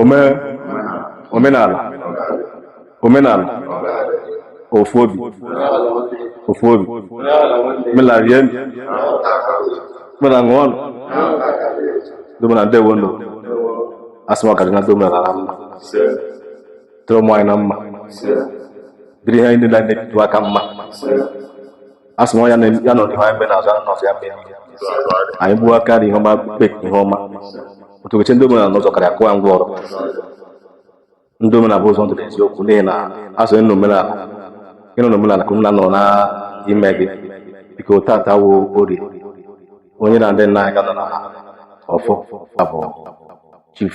ome omenala omenala ofu obi ofu obi omenala rie nụ omenala ṅụọ nụ ndị omenala ndewo nụ asị m ọ ga-adị na ndị omenala mma dịrị ụmụ anyị na mma dịrị ihe anyị niile na-ebitu aka mma a sị na ya na- ya nọ n'ihu anyị mgbe na-azụ anụ ọsọ ya mgbe niile. anyị gbuo aka dị ihe ọma kpe ihe ọma otu okeche ndị omenala n'ụzọ karịa kụwa ngwa ọrụ ndị omenala bụ ụzọ ndụ na eziokwu n'ihi na a sị na omenala ị nọ n'omenala ka omenala nọ n'ime gị biko tata wụ Orie onye na ndị nna anyị ga nọ na ọfọ abụ chief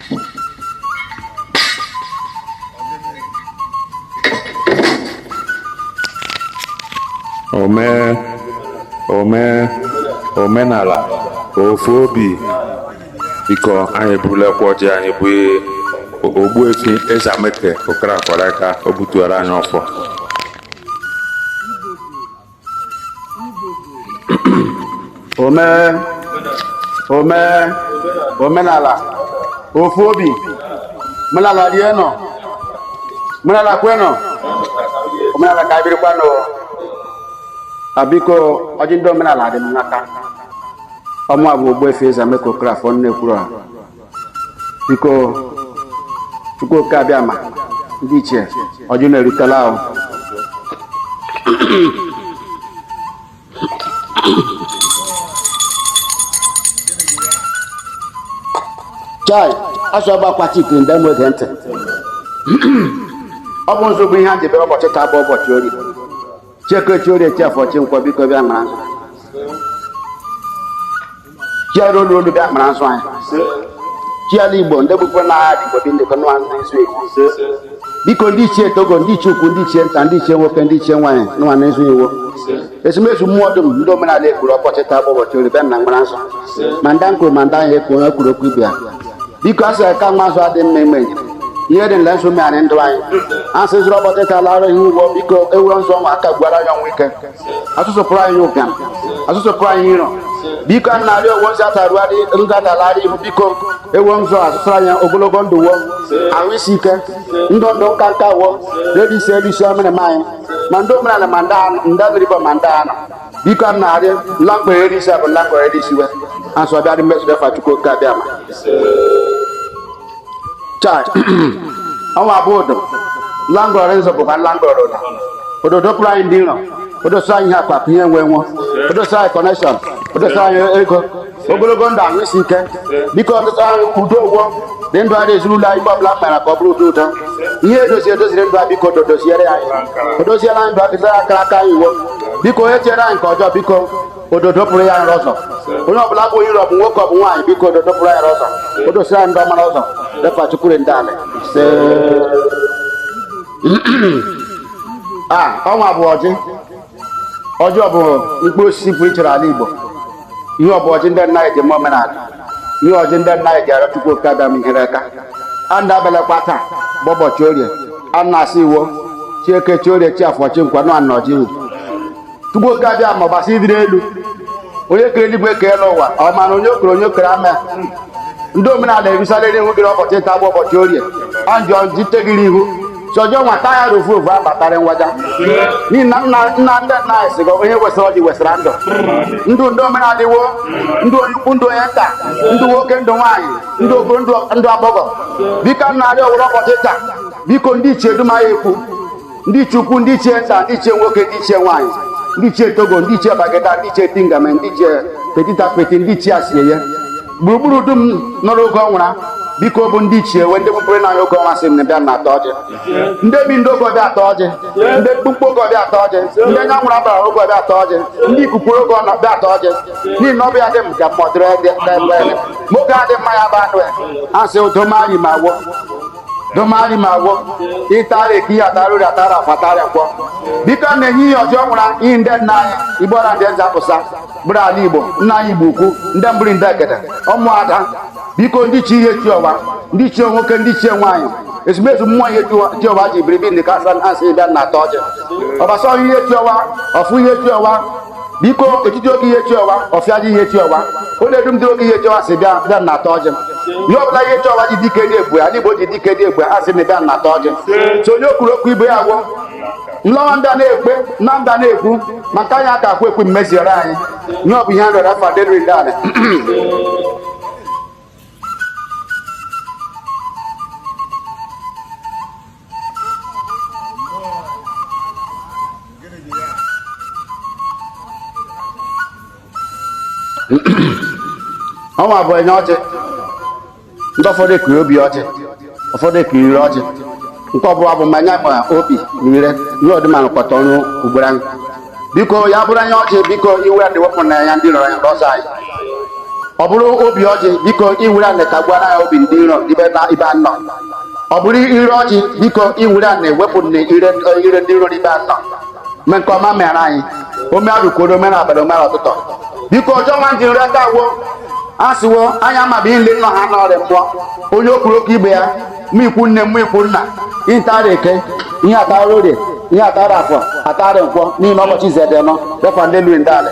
ome ome omenala ofu obi biko anyị eburulakwa ọjị anyị bụ Ogbuefi Eze Ameke Okorafọ aka o butuara anyị ọfọ ome ome omenala ofu obi omenala rie nụ omenala kwe nụ omenala ka birikwa nụ a biko ọjị ndị omenala dị m n'aka ọ mụ abụ Ogbuefi Eze Ameke Okorafọ na-ekwuru a biko Chukwu oke abịama ndị ichie ọjị na-erutela ahụ chai a sị ọgba akwa chike ndị mmụọ egee ntị ọ bụ nzu bụ ihe a debere ụbọchị taa bụ ụbọchị Orie chi Eke chi Orie chi Afọ chi Nkwọ biko bịa mara nzu chi ala olu olu bịa mara nzu anyị chi ala Igbo ndị bụkwa na agha Igbo dị ndịkọ nwa ndị nzu Igbo biko ndị ichie Togo ndị ichie ukwu ndị ichie nta ndị ichie nwoke ndị ichie nwaanyị nwa na nzu Igbo ezumezu mmụọ dum ndị omenala ekpuru ụbọchị taa bụ ụbọchị Orie bịanụ mara nzu ma ndị m kwuru ma ndị ahụ ekwu onye kwuru okwu ibe ya biko asị ka nwa azụ adị mma ime ihe dị nle nzu megharịa ndụ anyị asị zụrụ ụbọchị taa lara ihe ugbo biko ewuru nzu nwa aka gwara anyị nwa ike asị zupụrụ anyị ụbịam asị zupụrụ anyị iro biko a na-arịọ ọ wụ nzu atarụgharị nzọ atarụgharị ihu biko ewo nzu asị zuru anyị ogologo ndụ wo ahụ isi ike ndụ ndụ nka nka wo redisi erisi omenala anyị ma ndị omenala ma ndị anụ ndị mmiri bụ ma ndị anụ biko a na-arịọ nlakpọ eri isi abụ nlakpọ eri isi we asị abịarị mmezu efa Chukwu oke abịama chai ọ nwa bụ odo langọrọ nzu bụkwa langọrọ odo odo dopụrụ anyị ndị iro o dosa anyị ihe akpakụ ihe nwe nwe o dosa anyị connection o dosa anyị ego ogologo ndụ ahụ isi ike biko ọtụtụ ahụ udo ụgwọ dị ndụ anyị ezinụlọ anyị ọbụla mara ka ọ bụrụ ụdị ụtọ ihe edozi edoziri ndụ anyị biko dodoziere anyị odoziere anyị ndụ adịzara akara aka anyị iwo biko onye chere anyị nke ọjọọ biko ododo pụrụ ya r'ụzọ onye ọbụla bụ iro ọ bụ nwoke ọ bụ nwaanyị biko ododo pụrụ ya r'ụzọ o dosiri anyị ndị ọmara ọzọ defa chukwure ndị alị a ọnwa bụ ọjị ọjị ọ bụ mkpụrụ osisi pụrụ iche r'ala igbo ihe ọ bụ ọjị ndị nna anyị ji eme omenala ihe ọjị ndị nna anyị ji arịọ chukwu oke abịama ihere aka a na-abịalakwa taa bụ ụbọchị orie a na-asị iwo chi eke chi orie chi afọ chi nkwa nụ anọ ji chukwu oke abịama ọbasị dị r'elu onye kere eluigwe kee elu ụwa ọ ma na onye o kere onye o kere ama ya ndị omenala erusale r'ihu gị r'ụbọchị taa bụ ụbọchị orie anjọ jite gị r'ihu chọjọ nwata ya r'ofu ofu abatara ngwaja n'ihi na nna nna ndị nna anyị sịgo onye wesara ọjị wesara ndụ ndụ ndị omenala iwo ndụ onye ukwu ndụ onye nta ndụ nwoke ndụ nwaanyị ndụ okoro ndụ agbọghọ biko nara wo r'ụbọchị taa biko ndị ichie dum anyị ekwu ndị ichie ukwu ndị ichie nta ndị ichie nwoke ndị ichie nwaanyị ndị ichie togo ndị ichie bagada ndị ichie tingame ndị ichie petita peti ndị ichie asieye gburugburu dum nọrọ oge ọnwụra biko bụ ndị ichie wee ndị kpụkpụrụ n'anya oge ọnwa sị m bịanụ taa ọjị ndị bi ndị oge ọ bịa taa ọjị ndị mkpụmkpụ oge ọ bịa taa ọjị ndị anya nwụrụ abara oge ọ bịa taa ọjị ndị ikuku oge ọnwa bịa taa ọjị n'ihi na ọ bịa dị m ka mmụọ dịrị ndị ebe nwoke adị mma ya bụ anụ ya a sị udomanyi ma wo domani ma wo ịtara eke atara orie atara afọ atara nkwọ biko na-enye ihe ọjọọ nwụra ihe ndị nna anyị igbo na ndị nze pụsa bụrụ ala igbo nna anyị igbo ukwu ndị mbụrụ ndị ekede ụmụada biko ndị chi ihe chi ọwa ndị ichie nwoke ndị ichie nwaanyị ezumezu mmụọ ihe chi ọwa ji biribi ndị kasa a sị bịanụ taa ọjị ọbasa ọhụ ihe chi ọwa ọfụ ihe chi ọwa biko etiti oge ihe chi ọwa ọfịa ji ihe chi ọwa ọ na-edu ndị oge ihe chi ọwa si bịanụ taa ọjị ihe ọbụla ihe chi ọwa ji dike dị egbu ya ndị igbo ji dike dị egbu ya a sị na bịanụ taa ọjị so onye kwuru okwu ibe ya agwọ nlọwa ndị a na-ekpe na ndị a na-ekwu maka anyị aka akwa ekwe mmeziere anyị ihe ọ bụ ihe a rịọrọ afa dịrị ndị anyị ọnwa bụ enya ọjị ndị ụfọdụ ekiri obi ọjị ụfọdụ ekiri ire ọjị nke ọbụla bụ ma anya ma obi na ire ihe ọdịmara kpọta ọnụ ugboro anyị biko ya bụrụ anya ọjị biko iwere anị wepụ n'anya ndị iro ya ndị ọzọ anyị ọ bụrụ obi ọjị biko iwere anị ka gwara ya obi ndị iro ibe anọ ọ bụrụ ire ọjị biko iwere anị wepụ n'ire ndị iro ibe anọ mee nke ọma mere anyị ome arụkworo ome na abalị ome na ụtụtụ biko ọjọọ nwa ji nri aka agwọ a sịwo anya amaghị nle nọ ha n'ọrịa mmụọ onye okpuru oke ibe ya ma ikwu nne ma ikwu nna ihe atara eke ihe atara orie ihe atara afọ atara nkwọ n'ihi na ụbọchị izu dị anọ refa ndị elu ndị ala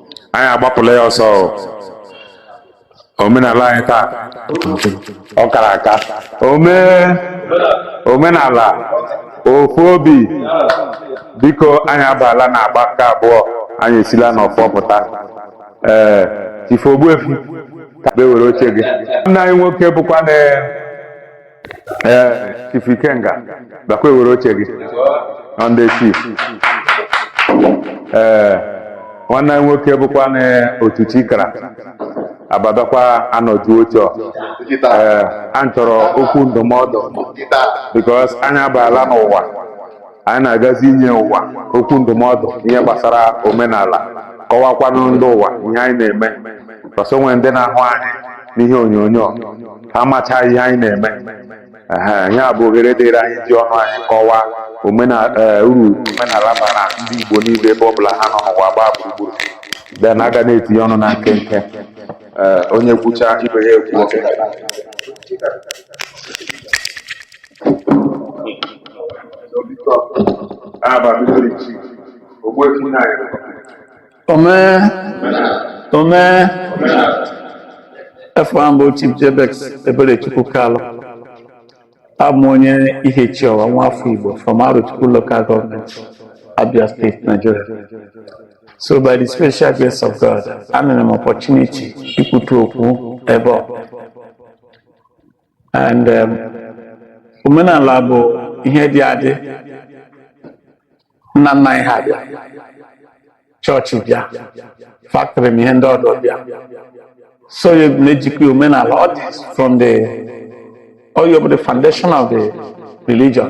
anyị agbapụla ya ọsọ o. omenala anyị taa ọ kara aka ome omenala ofu obi biko anyị abaala na agba nke abụọ anyị esila n'ọfọ pụta ee chief ogbuefi ka bịa were oche gị nna anyị nwoke bụkwa na ee chifu ikenga bịakwa were oche gị na ndị chief ee nwanne anyị nwoke bụkwa na otu chikara abadakwa anọju oche ọ. ee anyị chọrọ okwu ndụmọdụ because anyị abaala n'ụwa Anyị na-agazi inye ụwa okwu ndụmọdụ ihe gbasara omenala, kọwakwanụ ndị ụwa ihe anyị na-eme. Because o nwere ndị na-ahụ anyị n'ihe onyonyo, ha macha ihe anyị na-eme. Ehe, ihe a bụ ohere dịịrị anyị iji ọnụ anyị kọwaa omenala ee, uru omenala bara ndị Igbo niile ebe ọ bụla ha nọ n'ụwa gbaa gburugburu. Then a ga na-etinye ọnụ na nkenke. Ee, onye kwucha ibe ya ekwuo. Omee omee afa m bụ Chief Jebex Eberechukwu Kalụ abụ m onye Ihechiowa nwa afọ Igbo from Arochukwu Local Government Abia State Nigeria so by the special grace of God enyere m opportunity ikwutu okwu ebe ọ and um, omenala bụ ihe dị adị nna nna anyị ha bịa chọọchị bịa factory ma ihe ndị ọdọ bịa so ya na-ejikwa omenala ọ dị from the ọ bụ the foundation of the religion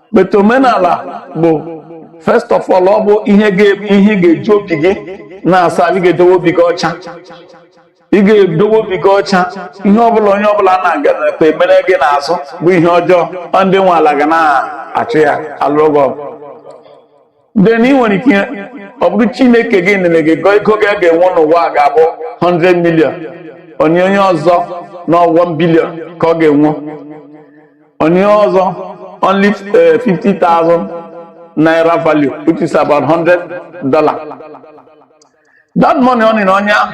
but omenala bụ first of all ọ bụ ihe ị ga-eji obi gị na-asa ị ga-edowe obi gị ọcha ị ga-edowe obi gị ọcha ihe ọbụla onye ọbụla na-agakwa emere gị n'azụ bụ ihe ọjọọ ndị nwe ala ga na-achụ ya alụrụ gị ọgụ then ị nwere ike ọ bụrụ chineke gị nene gị gọ ego gị ị ga-enwe n'ụwa a ga-abụ 100 million onye onye ọzọ na 1 billion ka ọ ga-enwe onye ọzọ only eh, 50,000 naira value which is about 100 dollar that money ọ nị na onye ahụ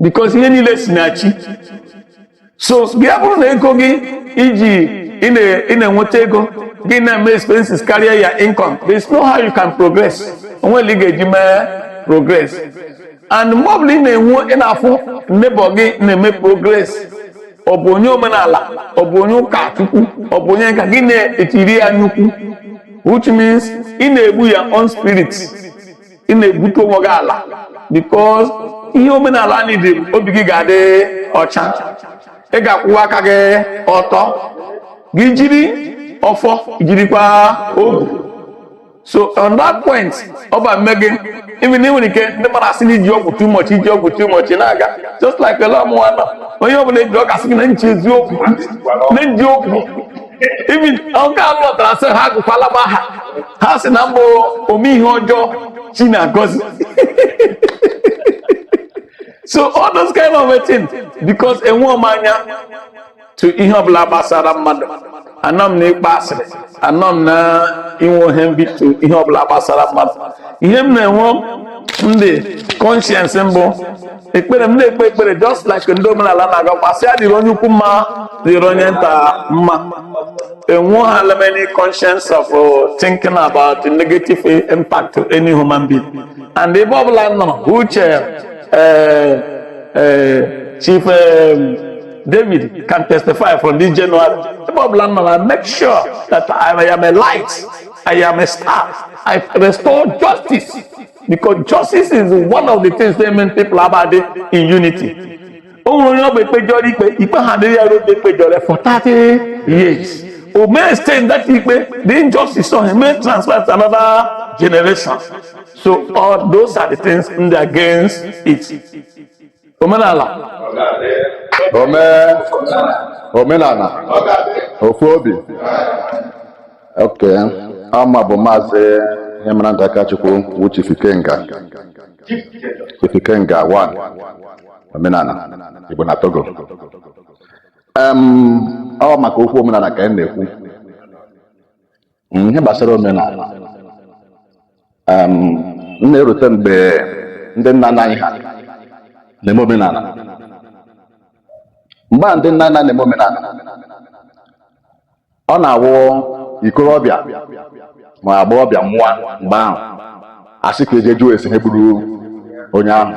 because ihe niile si na chi so ya bụrụ na ego gị i ji ị na-enweta ego gị na-eme expenses karịa your income there is no how you can progress o nwere ị ga-eji mee progress and mgbe ọbụla ị na-enwe ị na-afụ neighbor gị na-eme progress ọ bụ onye omenala ọ bụ onye ụka chukwu ọ bụ onye nka gị na-etiri ya nnukwu which means ị na-egbu ya on spirit ị na-egbutu onwe gị ala because ihe omenala anyị dị obi gị ga-adị ọcha ị ga-akwụwa aka gị ọtọ gị jiri ọfọ jirikwa ogu so on that point ọ bụ mme gị even ị nwere ike ndị mmadụ asị na i ji ọgwụ too much i ji ọgwụ too much na-aga just like lee mụwa nọ onye ọbụla eji ọ ga-asị gị na nche eziokwu na m ji ọgwụ even nke a lọtara sị ha agụkwala m aha ha sị na m bụ ome ihe ọjọọ chi na-agọzi so all those kind of things because enwe m anya to ihe ọbụla gbasara mmadụ anọ m na ịkpa asịrị anọ m na inwe ihe envy to ihe ọbụla gbasara mmadụ ihe m na-enwe in the conscience m bụ ekpere m na-ekpe ekpere just like ndị omenala na-agọkwa sị ya dịrị onye ukwu mma dịrị onye nta mma enweghịla m any conscience of uh, thinking about the negative impact to any human being and ebe ọbụla m nọrọ uche eh, eh, chief eh, David can testify from this January. Ebe ọbụla m nọrọ, I make sure that I am a light, I am a star, I restore justice because justice is one of the things that make people abide in unity o nwere onye ọ bụ e kpejọrọ ikpe ikpe ahụ dịrị ya n'oge e kpejọrọ for 30 years ọ may extend that ikpe the injustice on him may transfer to another generation so all those are the things ndị against it omenala ome omenala ofu obi ok aha m bụ maazị ihe mara ndị akachukwu wu chief ikenga chief ikenga one omenala igbo na togo em ọ maka okwu omenala ka anyị na-ekwu Mm, ihe gbasara omenala um, m na-erute mgbe ndị nna nna anyị ha na-eme omenala mgbe a ndị nna nna na-eme omenala ọ na-awụ ikorobịa ma agbọghọbịa nwụọ mgbe ahụ a sị ka e je jụọ ase ihe gburu onye ahụ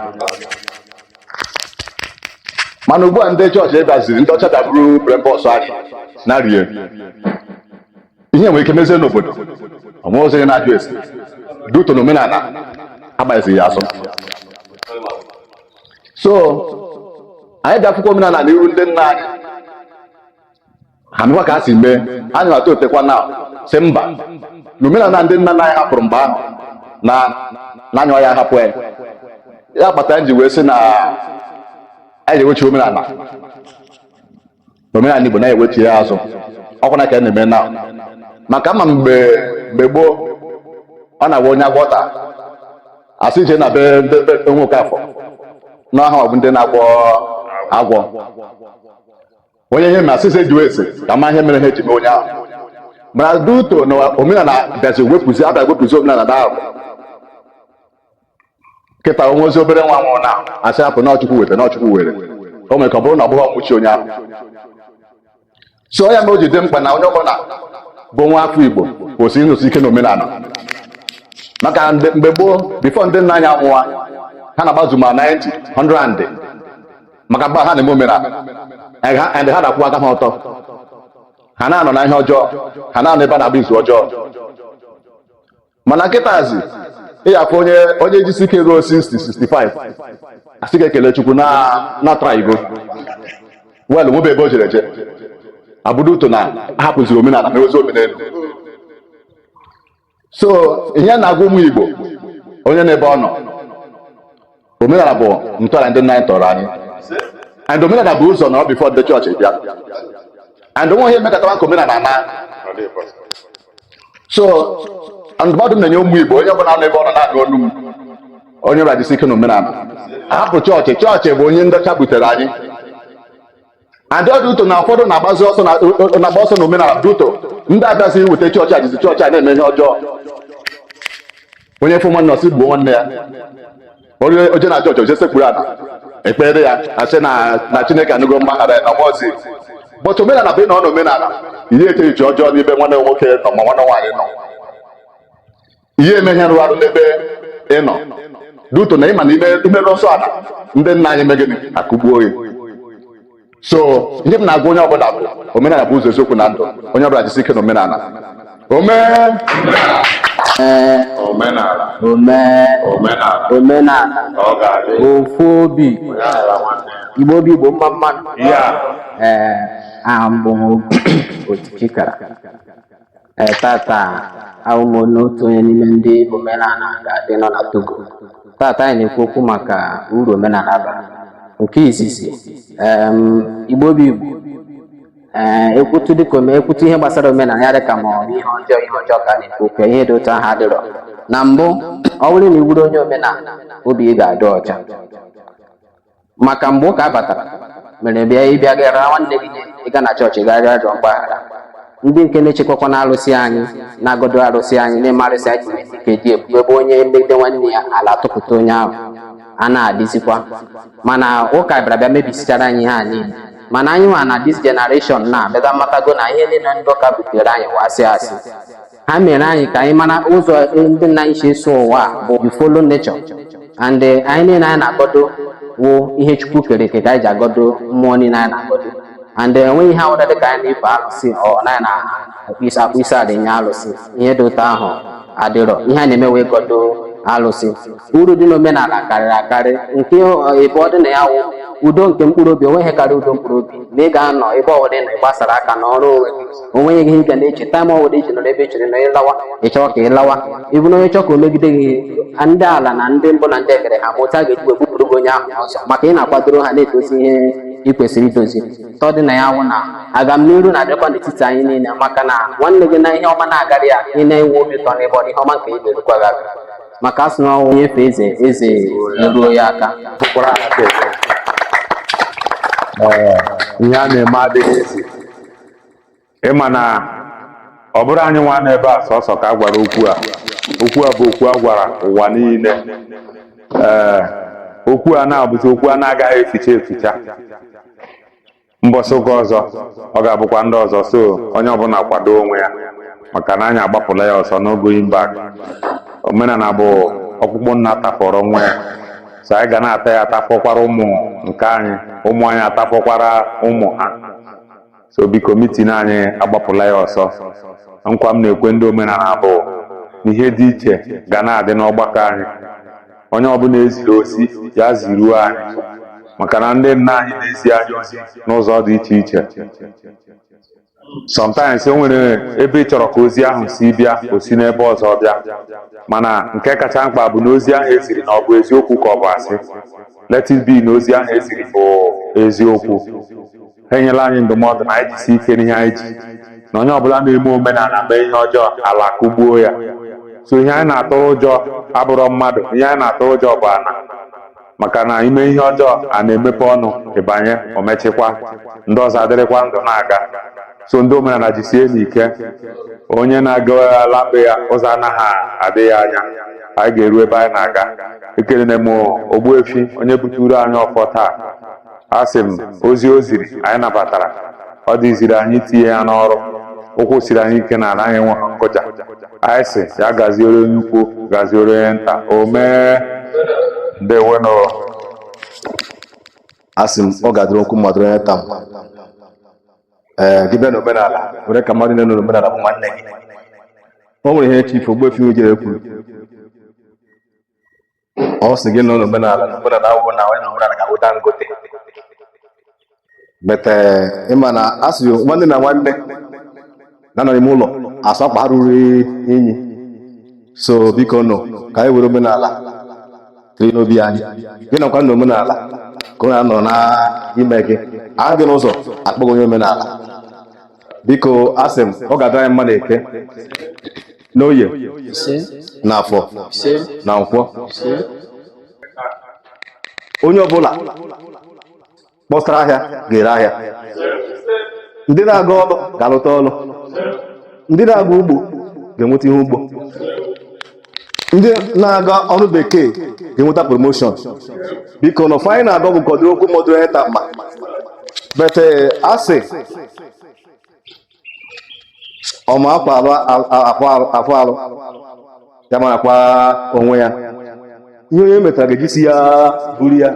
mana ugbu a ndị chọọchị bịaziri ndị ọcha bịa buru brainbox anyị na rie ihe nwere ike mezie n'obodo o nwerọzi onye na-ajụ ase due to na omenala agbaghịzi ya azụ so anyị ja-akwụkwa omenala n'iru ndị nna anyị ha mekwa ka ha si mee anyị na-atọ otekwa na sị mba na omenala ndị nna nna anyị hapụrụ mgbe ahụ na anyị aya-ahapụ ya ya kpatara anyị ji wee sị na anyị ga-ewechi omenala omenala Igbo na-ewechi ya azụ ọkwa na ka a na-eme na maka ma mgbe mgbe gboo ọ na-awụ onye agwọ ta a sị e je na be ndị be Nwokafọ na ọ ha bụ ndị na-agwọ agwọ onye ihe mee a sị sị e jewe ase ka a ma ihe mere ihe ji mee onye ahụ mana due to na omenala bịazi wepụzi a bịa wepụzi omenala na ahụ kịta o nwerọzi obere nwa nwụọ a na-asị hapụ na ọ chukwu weta na ọ chukwu were o nwere ike ọ bụrụ na ọ bụghị ọnwụ chi onye ahụ so ya na o ji dị mkpa na onye ọbụla bụ nwa afọ igbo kwesịrị ịnọsi ike n'omenala maka mgbe gboo before ndị nna anyị anwụwa ha na-agbazu ma 90 100 maka mgbe ha na-eme omenala and ha na-akwụ aka ha ọtọ ha na-anọ na ihe ọjọọ ha na-anọ ebe a na-agba izu ọjọọ mana kịtazi ị ya-afụ onye onye jisi ike ruo 60 65 a sị ka e kelee chukwu na ọ trygo well nwebe ebe o jere je ọ bụ due to na a hapụziri omenala mewezi omenelu so ihe m na-agwa ụmụ igbo onye n'ebe ọ nọ omenala bụ ntọala ndị nna anyị tọrọ anyị and omenala bụ ụzọ nọrọ before ndị chọọchị bịa and o nwe ihe mekatara ka omenala naa so ndụmọdụ m na-enye ụmụ igbo onye ọbụla nọ ebe ọ nọ na-anụ olu m onye ọbụla jisi ike na omenala hapụ chọọchị chọọchị bụ ihe ndị ọcha butere anyị and due to na ụfọdụ na-agbazi ọsọ na-agba ọsọ na omenala due to ndị a bịazi weta chọọchị e jizi chọọchị na-eme ihe ọjọọ onye fụ nwanne ọ sị gbuo nwanne ya o je na chọọchị o je sekpuru ala e kpeere ya a sị na chineke anụgo mgbaghara na o mezi but omenala bụ ị nọ n'omenala ị ya-eche echiche ọjọọ n'ebe nwanne nwoke nọ ma nwanne nwaanyị nọ ihe eme ihe rụrụ arụ n'ebe ị nọ due to na ịma na imerụ nsọ ala ndị nna anyị mee gịnị akụgbuo gị so ihe m na-agwa onye ọbụla bụ omenala bụ ụzọ eziokwu na ndụ onye ọbụla jisi ike na omenala omenala ofu obi igbo bụ igbo mma mma nụ ee aha m bụ oti chikara Ee, tata awụ m onye otu onye n'ime ndị omenala ga-adị nọ na Togo. Tata anyị na-ekwu okwu maka uru omenala bara. Nke izizi, em, Igbo bụ Igbo. Ee, ekwutu dịka ome ekwutu ihe gbasara omenala ya dịka ma ọ bụ ihe ọjọọ ihe ọjọọ ka a na-ekwu okwu ya, ihe dị otu ahụ adịrọ. Na mbụ, ọ bụrụ na ị wụrụ onye omenala, obi ị ga-adị ọcha. maka mgbe ụka batara mere bịa ịbịa gara nwanne gị ihe ịga na chọọchị gaa rịọ arịọ mgbaghara ndị nke na-echekwakwa na arụsị anyị na-agọdọ arụsị anyị na-eme arụsị anyị ji esi ike dị ebube ebe onye megide nwanne ya ala atụpụta onye ahụ a na-adịzikwa mana ụka bịara bịa mebisichara anyị ihe a niile mana anyị nwa na dis generation na abịaga amatago na ihe niile ndị ụka butere anyị wụ asị asị ha mere anyị ka anyị mara ụzọ ndị nna anyị si eso ụwa bụ you follow nature and eh, ihe niile anyị na-agọdo wụ ihe chukwu kere eke ka anyị ji agọdo mmụọ niile anyị na-agọdo and eh, enweghị ihe ọwụla dịka anyị na-efe alụsị ọ naghị na akpọ isi akpọ isi ala nye alụsị ihe dị otu ahụ adịrọ ihe a na-eme wụ ịgọdo alụsị uru dị n'omenala karịrị akarị nke abụọ dị na ya wụ udo nke mkpụrụ obi onweghị karịa udo mkpụrụ obi na ị ga-anọ ebe ọbụla ị nọ ịgbasara aka nọrọ onwe gị o nweghị ihe ị ga na-eche taịm ọwụla iji nọrọ ebe echere na ịlawa ịchọwa ka ịlawa ịbụ na onye chọọ ka o megide gị ndị ala na ndị mbụ na ndị egede ha ma otu a ga-eji wee bupụrụ gị onye ahụ ọzọ maka ị na-akwadoro ha na-edozi ihe ị kwesịrị idozi atọ dị na ya wụ na agamnihu na-abịakwa n'etiti anyị niile maka na nwanne gị na ihe ọma na-agara ya ị na-enwe obi ụtọ n'ebe ọ dị ihe ọma nke ị ga-erukwa gị aka maka asị na ọ wụ onye fee eze eze eruo ya aka bụkwara aka eze. Ee, ihe a na-eme adịghị ezi ịma na ọ bụrọ anyị nwa nọ ebe a sọsọ ka a gwara okwu a okwu a bụ okwu a gwara ụwa niile ee okwu a na-abụzi okwu a na-agaghị ekwucha ekwucha mbọsị ụka ọzọ ọ ga-abụkwa ndị ọzọ so onye ọbụla kwado onwe ya maka na anyị agbapụla ya ọsọ n'ogo imba omenala bụ ọkpụkpụ nna tafọrọ nwa ya so anyị ga na-ata ya atafọkwara ụmụ nke anyị ụmụ anyị atafọkwara ụmụ ha so biko mitin anyị agbapụla ya ọsọ nkwa m na-ekwe ndị omenala bụ na ihe dị iche ga na-adị n'ọgbakọ anyị onye ọbụla eziri ozi ya ziruo anyị maka na ndị nna anyị na-ezi anyị ozi n'ụzọ dị iche iche sometimes o nwere ebe ị chọrọ ka ozi ahụ si bịa o si n'ebe ọzọ bịa mana nke kacha mkpa bụ na ozi ahụ eziri na ọ bụ eziokwu ka ọ bụ asị let it be na ozi ahụ eziri bụ eziokwu ha enyela anyị ndụmọdụ na anyị jisi ike n'ihe anyị ji na onye ọbụla na-eme omenala mee ihe ọjọọ ala kụgbuo ya so ihe anyị na-atụrụ ụjọ abụrọ mmadụ ihe anyị na-atụrụ ụjọ bụ ana maka na i mee ihe ọjọọ ana emepe ọnụ ị banye o mechikwa ndị ọzọ adịrịkwa ndụ na-aga so ndị omenala jisienụ ike onye na-aga ala be ya ụzọ anaghị adị ya anya anyị ga-eru ebe anyị na-aga ekenela m ogbuefi onye buturu anyị ọfọ taa asị m ozi o ziri anyị nabatara ọ dịziri anyị itinye ya n'ọrụ ụkwụ siri anyị ike n'ala anyị nwe nkụja anyị sị ya gaziere onye ukwu gaziere onye nta o mee ndewonụ asị m ọ ga-adịrị ukwu mma dịrị onye nta mma gị bịa n'omenala were ka mmadụ na-enọ n'omenala bụ nwanne gị o nwere ihe chifu ogbuefi ojere kwuru ọ sị gị nọ n'omenala na omenala awụghị na onye nọ n'omenala ga-awụ dangote but eh, ịma na a sị nwanne na nwanne na-anọ n'ime ụlọ asụ akwa ha ruru inyi so bikonụ ka anyị were omenala tiri n'obi anyị gị nọkwa n'omenala ka ọ na-anọ n'ime gị a hụ gị n'ụzọ a kpọọ gị onye omenala biko asị m ọ ga-adịrị anyị mma na eke n'oye na afọ na nkwọ onye ọbụla kpọsara ahịa ga-ere ahịa ndị na-aga ọlụ ga-alụta ọlụ ndị na-aga ugbo ga-enweta ihe ugbo ndị na-aga ọrụ bekee ga-enweta promotion biko na ọfọ anyị na-agọ bụ ka ọ dịrị ukwu mma dịrị onye nta mma but eh, asị ọ ma akwa awụ arụ ya marakwa onwe ya ihe onye metara ga-eji isi ya buru ya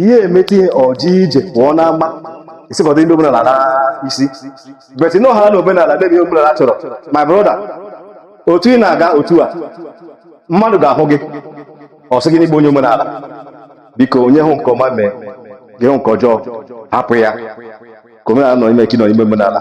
ihe emeta ihe ọjọọ ije pụọ n'ama isikọta ndị omenala n'isi but nọ ha na omenala na-eme ihe omenala chọrọ my brother otu ị na-aga otu a mmadụ ga-ahụ gị ọ sị gị na ị bụ onye omenala biko onye hụ nke ọma mee gị hụ nke ọjọọ hapụ ya ka omenala nọ n'ime ka ị nọ n'ime omenala